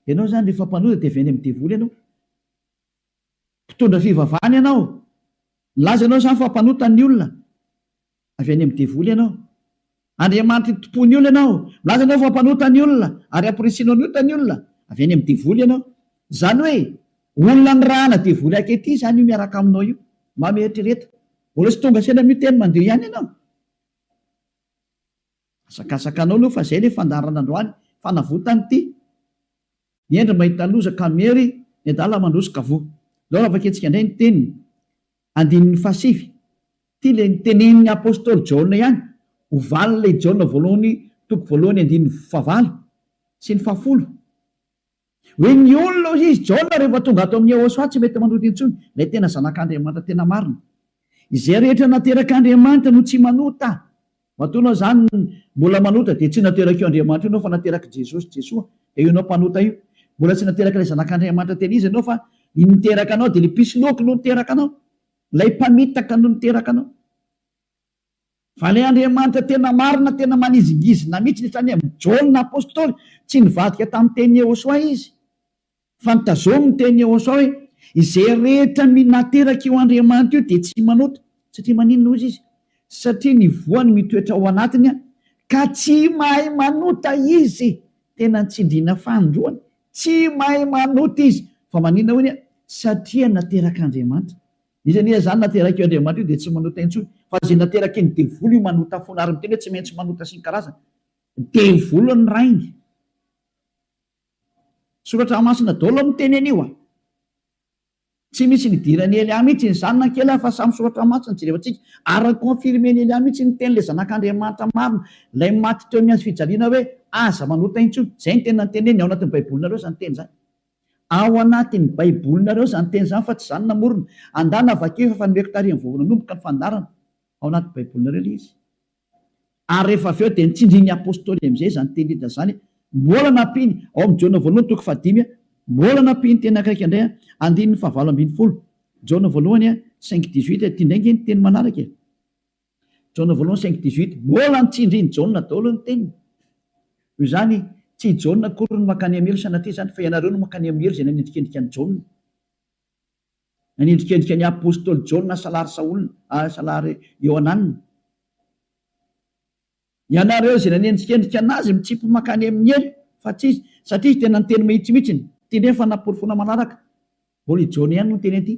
Ianao izany rehefa mpanota dia avy any amin'ny devoly ianao. mpitondra fivavahana ianao, milaza ianao izany fa mpanota ny olona, avy any amin'ny devoly ianao. Andriamanitra itompoan'ny olona ianao, milaza ianao fa mpanota ny olona, ary hampirisianao ny ota ny olona, avy any amin'ny devoly ianao. Izany hoe, olona nirahana devoly ankehitriny izany io miaraka aminao io. Mba mieritrereta. Mbola tsy tonga saina miteny mandeha ihany ianao. Hazakazakanao aloha fa zay le fandaharana androany fanavotany ty ny hendry mahita loza ka miery ny adala mandroso ka voa zao raha vakintsika indray ny teniny andininy fahasivy ty le nitenenin'ny apostoly jaona ihany ho valin'ilay jaona voalohany toko voalohany andininy fahavalo sy ny fahafolo Hoe ny olona hoy izy, Jaona rehefa tonga ato amin'i Yehosua tsy mety manota intsony, ilay tena Zanak'Andriamanitra tena marina. Izay rehetra naterak'Andriamanitra no tsy manota. Matoa ianao izany mbola manota dia tsy naterak'io Andriamanitra io ianao fa naterak'i Jesosy, Jesoa, dia io ianao mpanota io. Mbola tsy naterak'ilay Zanak'Andriamanitra tena izy ianao fa ny niteraka anao dia ilay mpisoloky no niteraka anao. Ilay mpamitaka no niteraka anao. Vale Andriamanitra tena marina tena manizingizina mitsy ny sainy amin'i Jaona apostoly tsy nivadika tamin'ny teny Yehosoa izy fa nitazomy ny teny Yehosoa hoe izay rehetra minateraka io Andriamanitra io dia tsy manota satria maninona hozy izy satria ny voany mitoetra ao anatiny ka tsy mahay manota izy tena nitsindriana fanindroany tsy mahay manota izy fa maninona hoy satria naterak'Andriamanitra Izy anie izany naterak'io Andriamanitra io dia tsy manota intsony fa izay naterakin'ny devoly io manota foana ary miteny hoe tsy maintsy manota sy ny karazany. Devoly ny rainy. Soratra masina daholo miteny an'io a. Tsy misy nidiran'i Elia mihitsy ny zanany kely aho fa samy soratra masina jerevantsika ary ni-confirmen'i Elia mihitsy ny tenin'ilay zanak'Andriamanitra marina ilay maty teo amin'ny hazo fijaliana hoe aza manota intsony. Izay ny teny nanteneniny ao anatin'ny baibolinareo izany teny izany. Ao anatin'ny Baibolinareo izany teny izany fa tsy izaho no namorona. Andana vakio efa efa nomeko tarehin'ny vao nanomboka ny fandaharana. Ao anaty Baibolinareo ilay izy. Ary rehefa avy eo dia nitsindrin'ny Apostoly amin'izay izany teny Lida izany. Mbola nampiany, ao amin'ny Jaona voalohany toko fahadimy, mbola nampiany teny akaiky indray, andininy fahavalo ambin'ny folo, Jaona voalohany cinq dix-huit, ity indray ange ny teny manaraka e. Jaona voalohany cinq dix huit, Mbola ny tsindrin'i Jaona daholo ny teniny. Noho izany, tsy i Jaona akory no mankany amin'ny helo sanatria izany, fa ianareo no mankany amin'ny helo izay nanendrikendrika an'i Jaona. Nanendrikendrika ny apostoly Jaona salary Saola, salary Iohananina. Ianareo izay nanendrikendrika an'azy mitsipy mankany amin'ny helo fa tsy izy satria izy tena niteny mahitsymihitsy ny teny efa naporofoana manaraka. Mbola i Jaona ihany no niteny an'ity.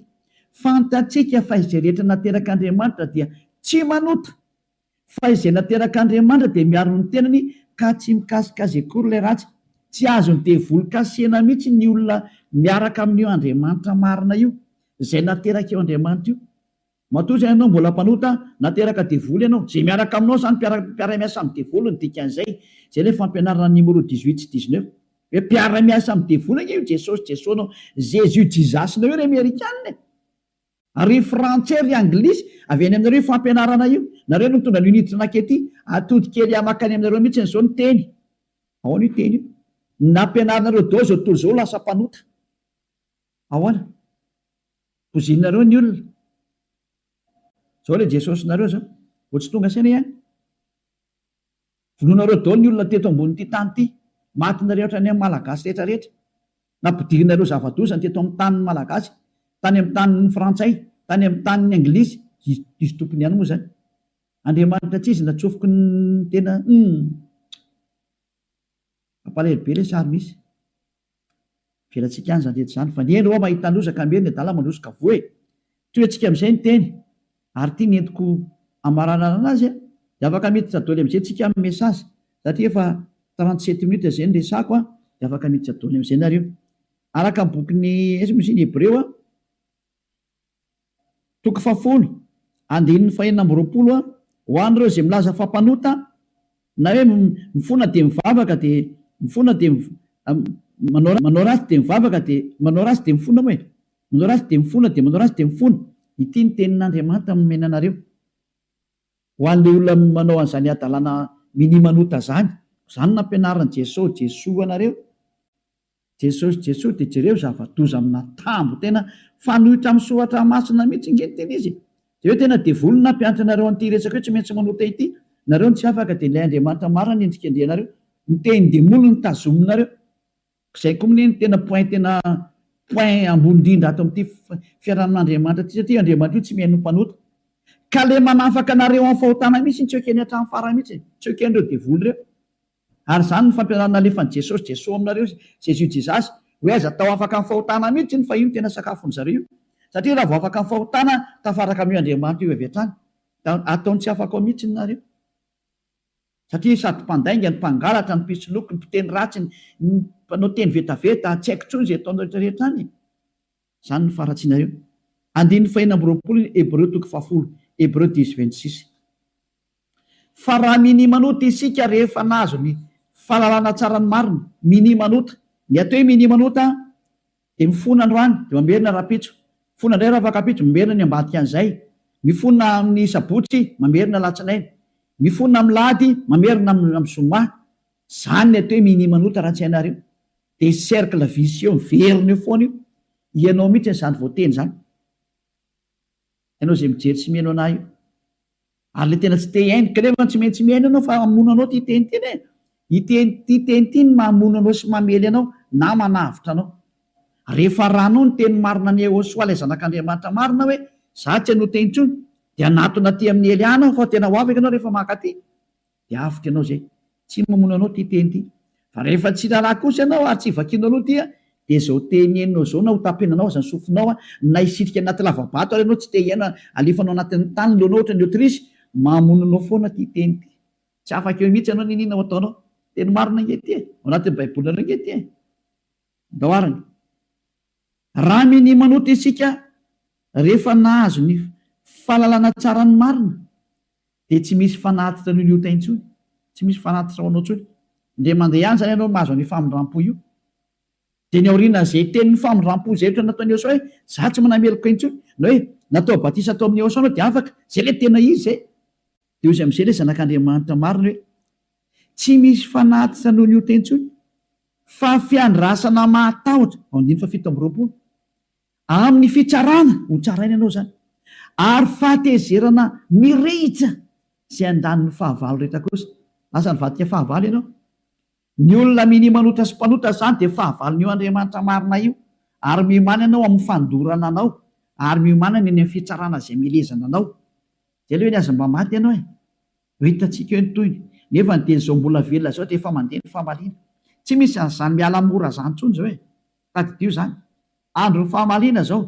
Fantatsika fa izay rehetra naterak'Andriamanitra dia tsy manota fa izay naterak'Andriamanitra dia miaro ny tenany ka tsy mikasika azy akory ilay ratsy. Tsy azon'ny devoly kasihina mihitsy ny olona miaraka amin'io Andriamanitra marina io, izay naterak'io Andriamanitra io. Matoa izay ianao mbola mpanota, na teraka devoly ianao, izay miaraka aminao izany mpiara-miasa amin'ny devoly no dikan'izay, izay ilay fampianaran'ny Nimoro dix huit sy dix neuf. Hoe mpiara-miasa amin'ny devoly ange io Jesosy Jeso nao, Jésus Jesus nao io ry Amerikana e! Ary ry Frantsay ry Anglisy, avy any aminareo io fampianarana io, nareo no mitondra an'io niditra nankety, atody kely ahy mankany aminareo mihitsy izao ny teny, ahoana io teny io? ny nampianarinareo daholo izao tontolo izao ho lasa mpanota, ahoana? Bozinareo ny olona. Zao le Jesosy nareo zao. Vao tsy tonga saina ihany. Vonoinareo daholo ny olona teto ambonin'ity tany ty. Maty nareo hatrany amin'ny Malagasy rehetra rehetra. Nampidirinareo zava-doza ny teto amin'ny tanin'ny Malagasy. Tany amin'ny tanin'ny Frantsay. Tany amin'ny tanin'ny Anglisy. Diso tompony ihany moa zany. Andriamanitra tsizy natsofoky ny tena humm. Mampalahelo be le sary misy. Avelantsika any izany rehetra izany fa ny eny hoa mahita loza ka miely ny adala mandroso ka voa e! Toy antsika amin'izay ny teny ary ity nentiko hamaranarana azy a! Dia afaka miditra doly amin'izay tsika amin'ny message satria efa trente sept minutes izay no resako a! Dia afaka miditra doly amin'izay nareo. Araka ny bokin'i Hebreo a! Toko fahafolo, andininy fahenina amby roapolo a Ho an'ireo izay milaza fa mpanota, na hoe mifona dia mivavaka dia mifona dia manao manao ratsy dia mivavaka dia manao ratsy dia mifona moa e! manao ratsy dia mifona dia manao ratsy dia mifona. Ity ny tenin'Andriamanitra nomena anareo ho an'ilay olona manao an'izany hadalana minia manota izany. Izany nampianarin'i Jeso Jesoa anareo Jesosy Jesosy de jereo zavadoza amina tambo tena fanoitra am soratra masina mitsy nge ny tena izy e! de eo tena devoly no nampianatra anareo anty resaka io tsy maintsy manota ity nareo no tsy afaka de ilay Andriamanitra marina no endrikendrehanareo ny tenindemoly no tazominareo zay ko mne no tena point tena point ambony indrindra ato amty fiarahamonin Andriamanitra ty satria io Andriamanitra io tsy mihaino ny mpanota ka le manafaka anareo am fahotana mitsy tsy ekeny atram farany mitsy e! tsy ekenreo devoly reo. Ary izany no fampianarana nalefan'i Jesosy Jeso aminareo izy Jésus Jesus hoe aiza tao afaka amin'ny fahotana mihitsy iny fa io no tena sakafon'ny zareo io satria raha vao afaka amin'ny fahotana tafaraka amin'io Andriamanitra io avy hatrany da ataony tsy afaka ao mihitsy ny nareo satria sady mpandainga ny mpangalatra ny mpisoloky ny mpiteny ratsy ny mpanao teny vetaveta tsy haiko intsony izay ataonareo rehetra rehetra any Izany no faharatsianareo. Andininy fahenina amby roapolo ny Hebreo toko fahafolo, Hebreu dix vingt six. Fa raha minimanota isika rehefa nahazo ny fahalalana tsara ny marina, minimanota, ny atao hoe minimanota dia mifona androany dia mamerina rapitso, mifona indray rafakapitso, mamerina ny ambadikan'izay, mifona amin'ny sabotsy, mamerina alatsinainy, mifona amin'ny lahady, mamerina amin'ny zoma. Izany ny atao hoe minimanota raha tsy hainareo. Dia cercle vicieux miverina eo foana io, ianao mihitsy izany voateny izany, ianao izay mijery sy mihaino anah io, ary ilay tena tsy te hihaino, ka nefa tsy maintsy mihaino ianao fa hamono anao ity teny ity e, ity ity teny ity no mahamono anao sy mamely anao na manavotra anao, rehefa arahanao ny teny marina an'i Yehosua ilay zanak'Andriamanitra marina hoe izaho tsy hanota intsony, dia hanatona aty amin'i Elia aho fa tena ho avy ianao rehefa mankaty. dia avotra ianao izay. Tsy mamono anao ity teny ity. Fa rehefa tsy raharaha kosa ianao ary tsy vakianao aloha ity dia izao teny henonao izao na hotapenanao aza ny sofinao na hisitrika anaty lava-bato ary ianao tsy te hihaino halefanao anatin'ny tany ny lohanao ohatran'ny otirisy, mamono anao foana ity teny ity. Tsy afaka eo mihitsy ianao n'inona ho ataonao. Teny marina ange ity e! Ao anatin'ny Baibolinareo ange ity e! Ndao ary ny. Raha minia manota isika rehefa nahazo ny fahalalana tsara ny marina dia tsy misy fanatitra an'io liota intsony, tsy misy fanatitra ho anao intsony, dia mandeha ihany izany ianao mahazo an'io famindram-po io. Dia ny aorianan'izay tenin'ny famindram-po izay ohatra nataon'i Eosaoa hoe, izaho tsy manana meloka intsony, na hoe natao batisa tao amin'i Eosaoa ianao dia afaka, izay ilay tena izy izay. Dia hoy amin'izay ilay Zanak'Andriamanitra marina hoe, Tsy misy fanatitra an'io liota intsony, fa fiandrasana mahatahotra, andininy fahafito amby roapolo. Amin'ny fitsarana ho tsaraina ianao izany, ary fahatezerana mirehitra izay andaniny fahavalo rehetra kosa. Lasa nivadika fahavalo ianao. Ny olona minia manota sy mpanota izany dia fahavalon'io Andriamanitra marina io, ary miomana ianao amin'ny fandorana anao, ary miomana ny eny amin'ny fitsarana izay milezana anao. Dia aleo anie aza mba maty ianao e! Ho hitantsika eo ny tohiny. Nefany dia izao mbola velona izao dia efa mandeha ny famaliana. Tsy misy an'izany miala mora izany intsony izao e! Tadidio izany. Andron'ny fahamaliana izao.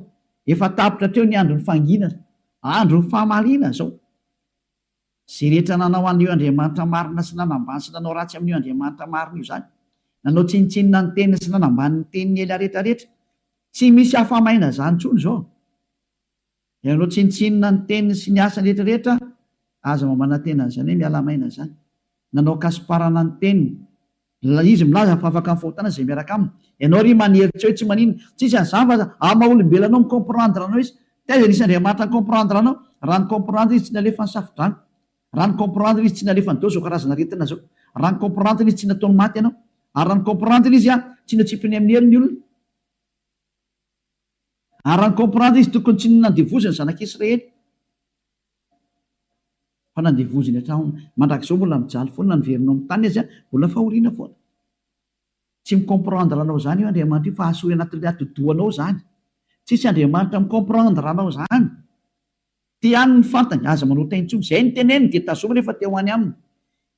Efa tapitra hatreo ny andron'ny fanginana. Andron'ny fahamaliana izao. Izay rehetra nanao an'io Andriamanitra marina sy nanambany sy nanao ratsy amin'io Andriamanitra marina io izany. Nanao tsinontsinona ny teniny sy nanambany ny teniny ela rehetra rehetra. Tsy misy hafa-maina izany intsony izao. Ianao tsinontsinona ny teniny sy ny asany rehetra rehetra aza mba manantena an'izany hoe miala maina izany. Nanao kasiparana ny teniny. Ilay izy milaza fa afaka mifahotana izay miaraka aminy. Ianao ry maniry tsy hoe tsy maninona. Tsisy an'izany fa aza amin'ny maha olombelona anao mi comprendre anao izy. Taiza nisy Andriamanitra ni comprendre anao? Raha ni comprendre izy tsy nalefa ny safodrano. Raha ni comprendre izy tsy nalefa an'izao izao karazana aretina izao. Raha ni comprendre izy tsy nataony maty anao. Ary raha ni comprendre izy tsy notsipiny amin'ny heriny ny olona. Ary raha ni-comprendre izy tokony tsy nandevozy ny zanak'i Israely fa nandevozy ny hatraony. Mandrakizao mbola mijaly foana ny verinao amin'ny tany aza mbola fahoriana foana. Tsy mi-comprendre anao izany io Andriamanitra io fa hahasoa anatin'ilay atidohanao izany. Tsisy Andriamanitra mi-comprendre anao izany. Te haniny ny fantany, aza manao tay intsony. Izay ny teneniny dia tazominy efa te ho any aminy.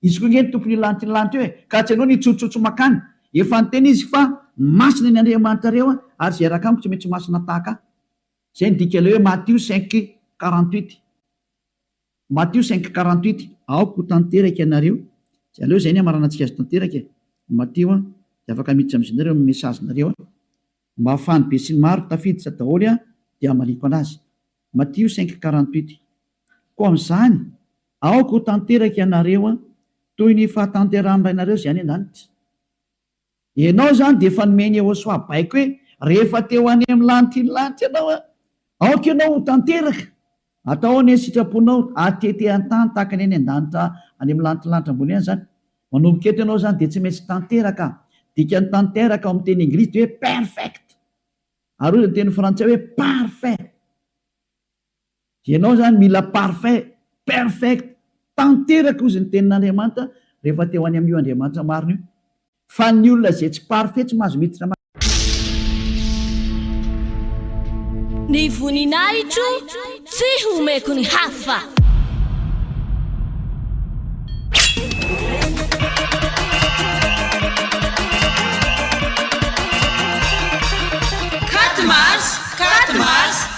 Izy koa ange ny tompony lanty ny lanty eo e! Ka tsy anao ny hitsotsotso mankany. Efa niteny izy fa masina ny Andriamanitrareo ary izay raka amiko tsy mety ho masina tahaka ahy. Izay ny dikan'ilay hoe Matio cinq quarante huit. Matio cinq quarante huit. Aoka ho tanteraka ianareo. Dia aleo izay ny hamaranantsika azy tanteraka e! Matio an! Dia afaka miditra amin'izy nareo amin'ny message-nareo an! Mba afahan'ny besinimaro tafiditra daholo aho dia hamaliako anazy. Matio cinq quarante huit. Koa amin'izany, aoka ho tanteraka ianareo toy ny fahatanterahan'ny Rainareo izay any an-danitra. Ianao izany dia efa nomen'i Yehosua baiko hoe, Rehefa te ho any amin'ny lanitra iny lanitra ianao, aoka ianao ho tanteraka. Atao ao ny sitraponao atete an-tany tahaka ny any an-danitra any amin'ny lantilanitra ambony any izany. Manomboka eto ianao izany dia tsy maintsy tanteraka. Dikan'ny tanteraka ao amin'ny teny Inglisy dia hoe perfect. Ary hoy ny teny Frantsay hoe parfait. Dia ianao izany mila parfait, perfect, tanteraka hozy ny tenin'Andriamanitra rehefa te ho any amin'io Andriamanitra marina io. Fa ny olona izay tsy parfait tsy mahazo miditra ma. Ny voninahitro tsy homeko ny hafa.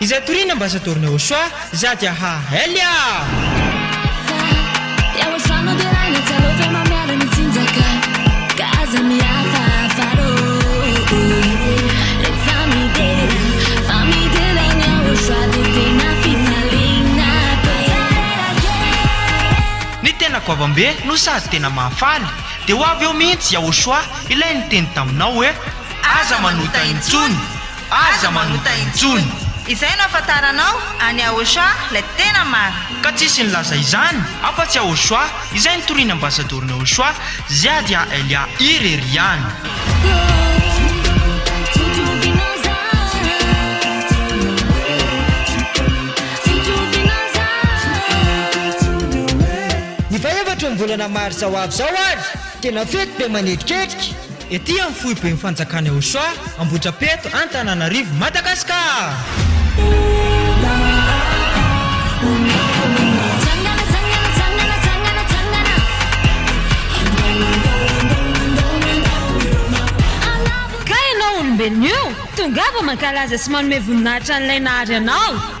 Izay toriana ambassador na Ochoa za dia ha elle ah! Ny tena goavambe no sady tena mahafaly dia ho avy eo mihitsy Yahoshua ilay niteny taminao hoe aza manota intsony! aza manota intsony. Izay no afantaranao an'i Ahosoa ilay tena marina. Ka tsisy nilaza izany afa tsy Ahosoa izay nitorian'ny ambasadaoron'i Ahosoa Ziadia Elia irery ihany. Ny faha efatra ny volana marsa ho avy izao ary tena fety be manetriketrika. Ety amin'ny foiben'ny fanjakana eo Soa, Ambohitrapeto, Antananarivo, Madagasikara! Ka ianao olombelona io, tongava mankalaza sy manome voninahitra an'ilay nahary anao.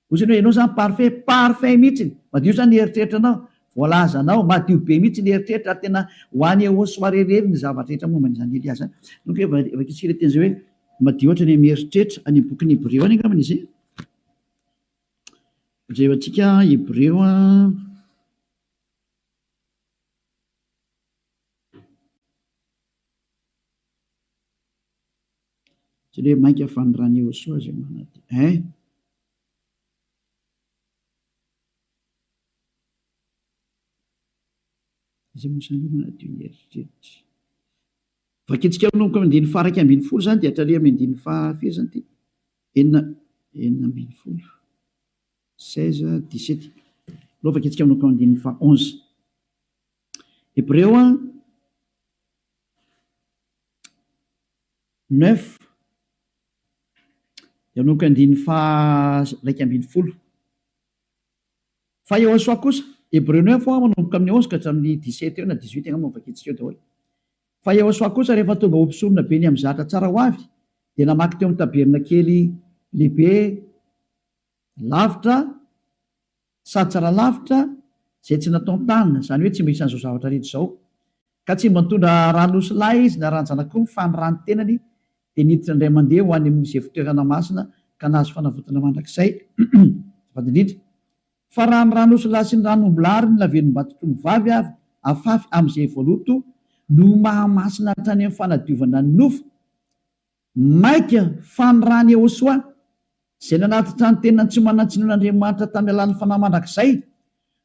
Ozy ny hoe ianao zany parfait, parfait mihitsiny, madio zany ny eritreritranao, voalazanao, madio be mihitsy ny eritreritra ary tena ho any au soirée irery ny zavatra rehetra momba an'i Zany Elia zany. Donc hoe va- vakintsika ilay teny zay hoe madio ohatra ny amin'ny eritreritra, any amin'ny bokin'ny Hebreo any angambany izy e. Jereo antsika Hebreo an. Tsy le mainka fanirany Iehosoa izay manadio eh! Izay mosan'io manadio ny eritreritra. Vakintsika manomboka amin'ny andininy faha iraika ambin'ny folo izany dia hatraria amin'ny andininy faha firy izany ity? Enina enina ambin'ny folo. 16, 17. Aleo vakintsika manomboka amin'ny andininy faha onze. Hebreo a. Neuf, Hianoko andininy faha iraika ambin'ny folo. Fa Yehosua kosa, Hebreo neuf ho'a, manomboka amin'ny onze ka hatramin'ny dix sept eo na dix huit, angamba vakintsika eo daholo. Fa Yehosua kosa, rehefa tonga ho mpisorona be ny amin'ny zahatra tsara ho avy, dia namaky teo amin'ny tabernakely lehibe lavitra, Sady tsara lavitra izay tsy natao ny tanana, izany hoe tsy mba isan'izao zavatra rehetra izao, ka tsy mba nitondra rà nosy lahy izy na ràn-janak'omby fa ny ràn'ny tenany dia niditra indray mandeha ho any amin'izay fitoerana masina ka nahazo fanavotana mandrakizay, azafady indrindra fa raha ny rà nosy lahy sy ny ràn'omby lahy ary ny lavenim-bato-trondro vavy avy afafy amin'izay voaloto no mahamasina hatrany amin'ny fanadiovana ny nofo, Maika fa ny rà an'i Yehosoa, izay nanatitra ny tenany tsy manan-tsiny ho an'Andriamanitra tamin'ny alalan'ny fanahy mandrakizay,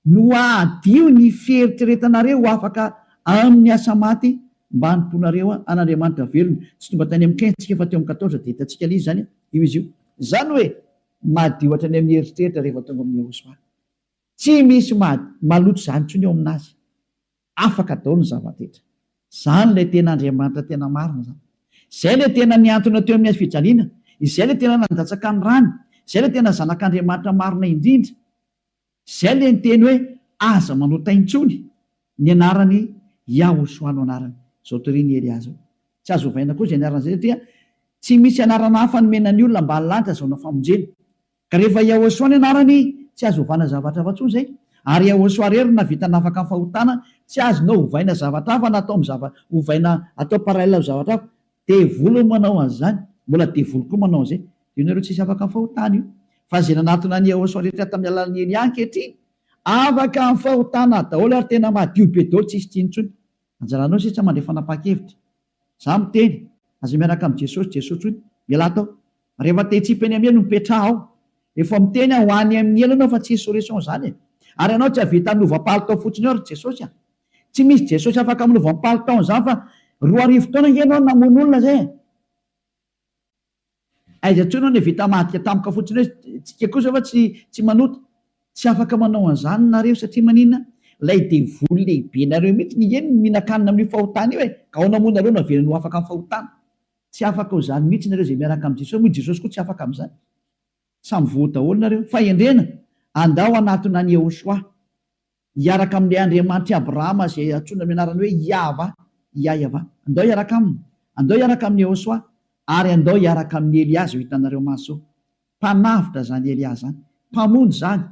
no hahadio ny fieritreretanareo ho afaka amin'ny asa maty mba hanompoanareo an'Andriamanitra velona. Tsy tonga tany amin'ny quinze tsika fa teo amin'ny quatorze, dia hitantsika lzy izany io izy io. Izany hoe, madio hatrany amin'ny eritreritra rehefa tonga amin'i Yehosoa. Tsy misy maloto izany intsony eo amin'Azy. Afaka daholo ny zava-drehetra. Izany ilay tena Andriamanitra tena marina izany. Izay ilay tena nihantona teo amin'ny hazofijaliana, izay ilay tena nandatsaka ny rany, izay ilay tena Zanak'Andriamanitra marina indrindra. Izay ilay niteny hoe, Aza manota intsony ny anarany Yahushua no anarany. Izao torian'i Elia izao. Tsy azo ovaina koa izay anaran'izay satria tsy misy anarana hafa nomena ny olona ambany lanitra azahoana famonjena. Ka rehefa Yahosua ny anarany tsy azo ovana zavatra hafa tsony zay, ary Yahosua irery no navita nafaka ny fahotana, tsy azonao ovaina zavatra hafa na atao am zava ovaina atao parallel am zavatra hafa, devoly no manao anzany, mbola devoly koa manao anzay, de io nareo tsisy afaka am fahotana io, fa ze nanatona an Yahosua rehetra tam alalan i Elia ankehitriny afaka am fahotana daholo ary tena madio be daholo tsisy tsiny tsony, anjaranao sitsa mandray fanapakevitra. Za miteny, aza miaraka am Jesosy Jesosy tsoiny, ialahy tao. Rehefa te hitsipy any am elo mipetraha ao. Efa miteny aho ho any am ny elo anao fa tsy hisy solution zany e. Ary anao tsy ahavita milova palitao fotsiny eo ry Jesosy a. Tsy misy Jesosy afaka milova am palitaon zany fa roa arivo taona nge enao namono olona zay e. Aiza tsoy no nevita madika tampoka fotsiny hoe tsika kosa va tsy tsy manota? Tsy afaka manao an'izany nareo satria maninona? Ilay devoly lehibe nareo mihitsy niheno ny mihinan-kanina amin'io fahotana io e! Gaona moa nareo no avelany ho afaka amin'ny fahotana? Tsy afaka ho izany mihitsy nareo izay miaraka amin'i Jesosy moa i Jesosy koa tsy afaka amin'izany. Samy voa daholo nareo. Fahendrena! Andao hanatona an'i Yehoshuah. Hiaraka amin'ilay Andriamanitr'i Abrahama izay antsoina amin'ny anarany hoe Iahva, Iaiava. Andao hiaraka aminy. Andao hiaraka amin'i Iehosoa. Ary andao hiaraka amin'i Elià izay ho hitanareo maso. Mpanavotra izany Elià izany. Mpamonjy izany.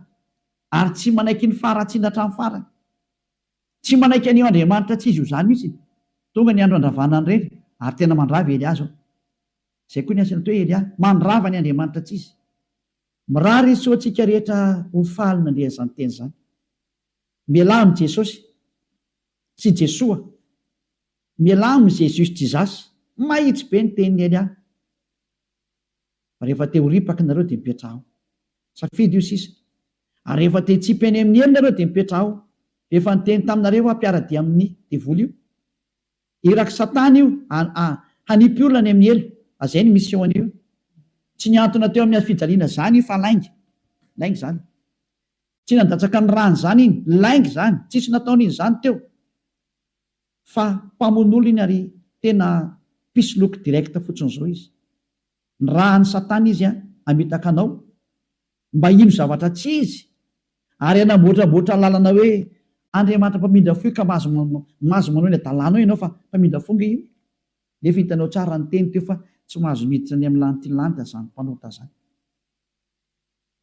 Ary tsy manaiky ny faharatsiana hatramin'ny farany. Tsy manaiky an'io Andriamanitra tsy izy ho zany mihitsy. Tonga ny andro handravana ny reny, ary tena mandrava i Elià izao. Izay koa ny asan'ito hoe Elià. Mandrava ny Andriamanitra tsy izy. Mirary hitsoa antsika rehetra ho faly nandre an'izany teny izany. Mialà amin'i Jesosy, sy Jesoa. Mialà amin'i Jésus Jesus. Mahitsy be ny tenin'i Elia. Rehefa te ho ripaka nareo dia mipetraha ao. Safidy io sisa. Ary rehefa te hitsipy eny amin'ny elo nareo dia mipetraha ao. Efa niteny taminareo aho mpiara-dia amin'ny devoly io. Irak satana io a hanipy olona any amin'ny ela a zay ny mission an'io tsy niantona teo amin'ny hafijaliana zany io fa lainga lainga zany tsy nandatsaka ny rany zany iny lainga zany tsisy nataony iny zany teo fa mpamon'olo iny ary tena mpisoloky direct fotsiny zao izy ny raha any satana izy a hamitaka anao mba hino zavatra tsy izy, ary hanamboatramboatra lalana hoe Andriamanitra mpamindra fo io ka mahazo mahazo manao eny adalana eo ianao fa mpamindra fo nge io nefa hitanao tsara ny teny teo fa tsy mahazo miditra any amin'ny lanitry ny lanitra zany mpanota zany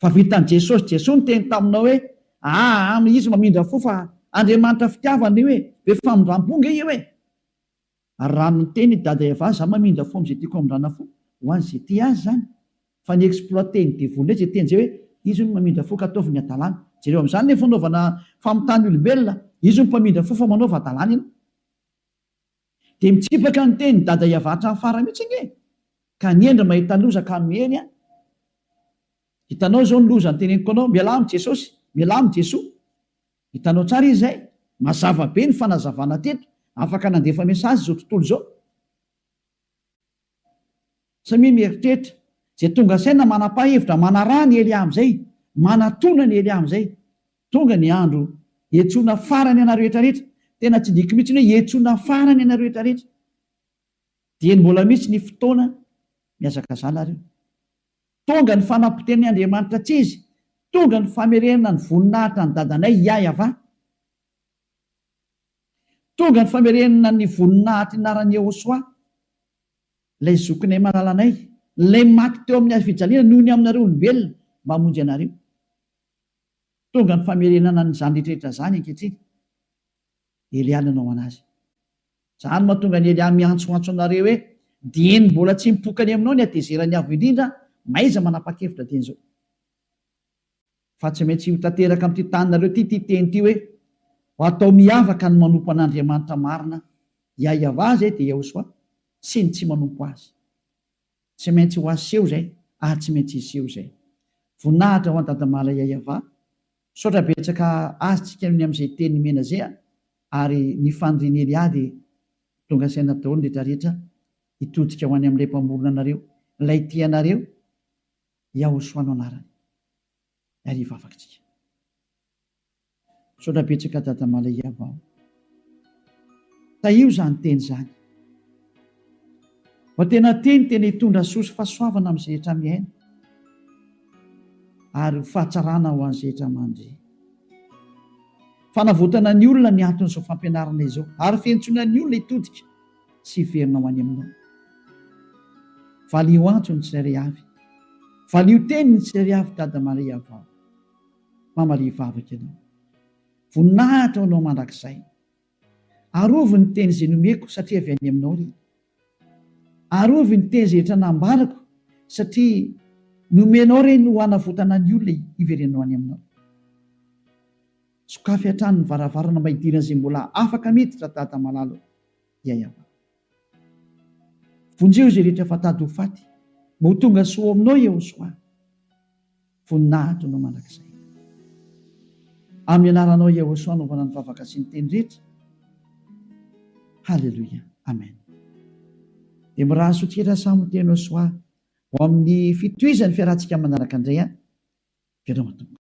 fa vitan'i Jesosy Jesoa niteny taminao hoe aa izy mamindra fo fa Andriamanitra fitiavana io e be famindrampo nge io e Ary raha miteny i Dada Eva za mamindra fo amzay tiako hamindrana fo ho azy ze tia azy zany fa ny exploiter ny devoly ndray ze teny zay hoe izy hono mamindra fo ka ataovy ny adalana jereo amzany le fanaovana famitany olombelona izy hono mpamindra fo fa manaova adalana ianao de mitsipaka ny teny Dada Eva hatrany farany mitsy ange ka ny hendry mahita loza ka miely an hitanao zao ny loza ny teneniko anao mialà am jesosy mialà am jesoa Hitanao tsara izy izay? Mazava be ny fanazavana teto. Afaka nandefa message izao tontolo izao. Samia mieritreritra. Izay tonga saina manapa hevitra manaraha ny Elia amin'izay. Manatona ny Elia amin'izay. Tonga ny andro hiantsoana farany anareo rehetrarehetra. Tena tsy diko mihitsy ny hoe hiantsoana farany anareo rehetrarehetra. Dieny mbola misy ny fotoana mihazakazana ary io. Tonga ny fanampoten'i Andriamanitra tsy izy, tonga ny famerenana ny voninahitra an'i Dadanay Iahyavà. Tonga ny famerenana ny voninahitr'i Naran'i Yehosua, ilay zokinay malalanay, ilay maty teo amin'ny hazofijaliana noho ny aminareo olombelona mba hamonjy anareo. Tonga ny famerenana an'izany rehetra rehetra izany ankehitriny. Elia nanao an'azy. Izany mahatonga an'i Elia miantsoantso anareo hoe, Dieny mbola tsy mipoka any aminao ny hatezeran'ny Avo Indrindra, mahaiza manapa-kevitra dieny izao. Fa tsy maintsy ho tanteraka amin'ity taninareo ity ity teny ity hoe, Ho atao miavaka ny manompo an'Andriamanitra marina, Iahyavah, izay dia Iehosòa, sy ny tsy manompo azy. Tsy maintsy ho aseho izay ary tsy maintsy hiseho izay. Voninahitra ho an Dadamala Yayava. Misaotra betsaka azy tsika ny amin'izay teny nomena izay a! ary ny fanirian'i Elia dia tonga saina daholo ny rehetra rehetra hitodika ho any amin'ilay mpamorona anareo, ilay tia anareo, Yahoshua no anarany. Ary hivavaka tsika. Misaotra betsaka Dada Malayavao. Tahio izany teny izany. Fa tena teny tena hitondra soa sy fahasoavana amin'ny zehetra miaina ary ho fahatsarana ho an'ny zehetra mandre. Fanavotana ny olona ny anton'izao fampianarana izao ary fientsoana ny olona hitodika sy hiverina ho any aminao. Valio antso ny tsirairay avy. Valio teny ny tsirairay avy Dada Malayavao. Mamalia vavaka ianao. Voninahitra ho anao mandrakizay. Arovy ny teny izay nomeko satria avy any aminao ry. Arovy ny teny izay efa nambarako satria nomenao ireny ho hanavotana ny olona hiverenanao any aminao. Sokafy hatrany ny varavarana mba hidiran'izay mbola afaka miditra ry Dada malala ô. Yayava. Vonjeo izay rehetra efa tady ho faty mba ho tonga soa ao aminao Yehosoa. Voninahitro Anao mandrakizay. Amin'ny anaranao Yahoshuah anaovana ny vavaka sy ny teny rehetra. Haleloia. Amen. Dia miraha sotrira samy ho teno soa ho amin'ny fitohizan'ny fiarahantsika manaraka indray an. Veloma Tompo.